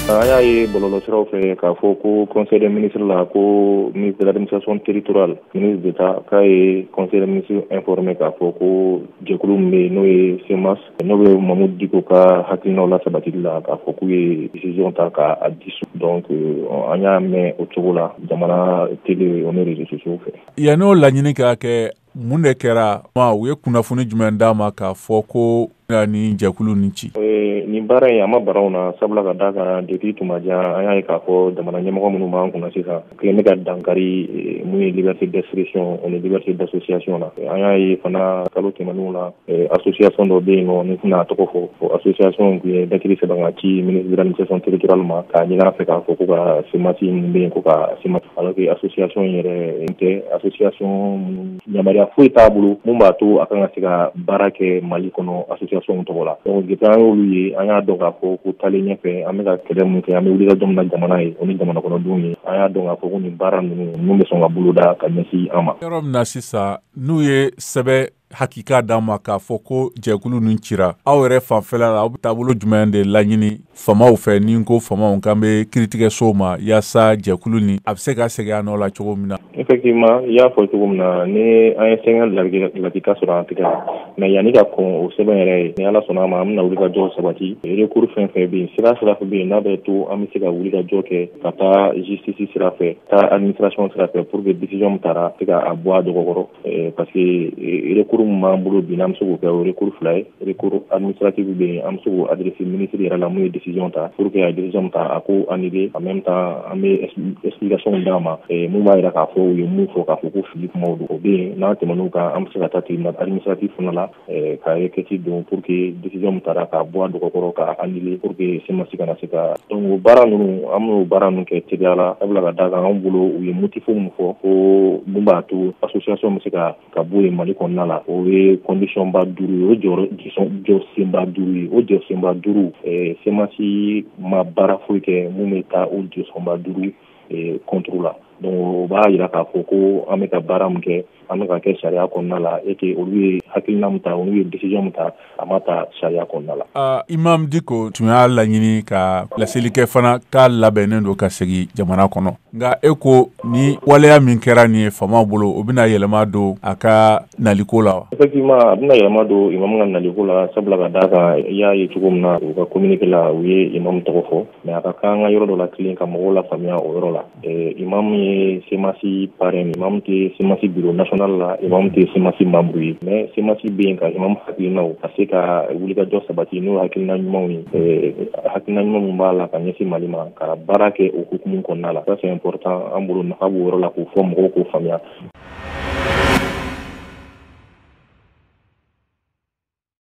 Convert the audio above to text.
an y'a ye bɔlɔlɔsiraw fɛ k'a fɔ ko conseil des ministres la ko ministre de l'administration territoriale ministre d'état k'a ye conseil des ministres informé k'a fɔ ko jɛkulu min bɛ yen n'o ye cmas n'o bɛ mahmoud dicko ka hakilinaw lasabatili la k'a fɔ k'u ye décision ta k'a dissout donc euh, an y'a mɛn o cogo la jamana tele o ni réseaux sociaux fɛ yann'o laɲini ka kɛ mun de kɛra u ye kunnafoni jumɛn d'a ma k'a fɔ ko ni jɛkulu ni ci nin baara in a ma bara anw na sabula ka da kan depuis tuma jan an y'a ye k'a fɔ jamana ɲɛmɔgɔ minnu b'an kunna sisan kelen bɛ ka dankari mun ye liberté d'expression ani liberté d'association na an y'a ye fana kalo tɛmɛnenw la association dɔ bɛ yen nɔ ne tɛna a tɔgɔ fɔ o association tun ye lɛtiri sɛbɛn ka ci ministre de l'administration territoriale ma k'a ɲini a fɛ k'a fɔ ko ka cmas min bɛ yen ko ka cmas ci alors que association in yɛrɛ n tɛ association minnu yamaruya foyi t'a bolo mun b'a to a kan ka se ka baara kɛ mali kɔnɔ association tɔgɔ la donc depuis an y'olu ye an y'a dɔn k'a fɔ ko taalen ɲɛfɛ an bɛ ka kɛlɛ min kɛ an bɛ wulikajɔ min na jamana ye o ni jamana kɔnɔdenw ye an y'a dɔn k'a fɔ ko nin baara ninnu mun bɛ sɔn ka boloda ka ɲɛsin an ma yɔrɔ min na sisan n'u ye sɛbɛn hakika d'a ma k'a fɔ ko jɛkulu nin cira aw yɛrɛ fanfɛla la aw bɛ taabolo jumɛn de laɲini famaw fɛ ni n ko famaw n kan bɛ kiritigɛsow ma yaasa jɛkulu nin a bɛ se ka segin a nɔ la cogo min na effectivement i y'a fɔ cogo min na ni an ye sɛbɛn lakika sɔrɔ an tɛgɛ la mais yanni ka kɔn o sɛbɛn yɛrɛ ɲɛ ni ala sɔnna a ma an bɛna wulikajɔ sabati recours fɛn fɛn bɛ yen sira sira fɛ bɛ yen n'a bɛ to an bɛ se ka wulikajɔ kɛ ka taa justice sira fɛ taa administration sira fɛ pour que décision min tara se ka a bɔ a dɔgɔkɔrɔ eh, parce que eh, recours min b'an bolo bi n'an bɛ se k'o kɛ o recours fila ye recours administratif bɛ yen an bɛ se k'o adresser ministre yɛrɛ la mun ye décision ta pour que a ye décision min ta a k'o annuler en même temps an bɛ explication d'a ma eh, mun b'a jira k'a fɔ u ye mun fɔ k'a fɔ ko fili kumaw don o bɛ yen n'an tɛmɛn'o kan an bɛ se ka taa tribunal administratif fana la ka requête don pour que décision min tara k'a bɔ a dɔgɔkɔrɔ k'a annuler pour que cmas kana se ka donc o baara ninnu an b'o baara ninnu kɛ teliya la sabula ka da kan an bolo u ye motif min fɔ ko min b'a to association bɛ se ka ka bɔ yen mali kɔnɔna la o ye conditionba duuru ye o jɔsenba duuru ye o jɔsenba duuru cmas ma baara foyi kɛ min bɛ taa o jɔsenba duuru contre la donc o b'a jira k'a fɔ ko an bɛ ka baara min kɛ an bɛ k'a kɛ sariya kɔnɔna la et que olu ye hakilina min ta olu ye décision min ta a ma ta sariya kɔnɔna la imam dicko tun y'a laɲini ka laseli kɛ fana k'a labɛnnen don ka segin jamana kɔnɔ nka e ko nin waleya min kɛra nin ye faama bolo o bɛna yɛlɛma don a ka naliko la wa effectivement a bɛna yɛlɛma don imam ka naliko la sabula ka da kan i y'a ye cogo min na u ka communiqué la u ye imam tɔgɔ fɔ mais a ka kan an ka yɔrɔ dɔ latilen ka mɔgɔw lafaamuya o yɔrɔ la imamu ye CMAS parrain imam tɛ CMAS bureau national la imam tɛ CMAS membre ye mais CMAS bɛ yen ka imam hakilinaw ka se ka wulikajɔ sabati n'o hakilina ɲumanw ye hakilina ɲuman min b'a la ka ɲɛsin mali ma ka baara kɛ o hukumu kɔnɔna la ça c'est important an bolo nafa b'o yɔrɔ la k'o fɔ mɔgɔw k'o faamuya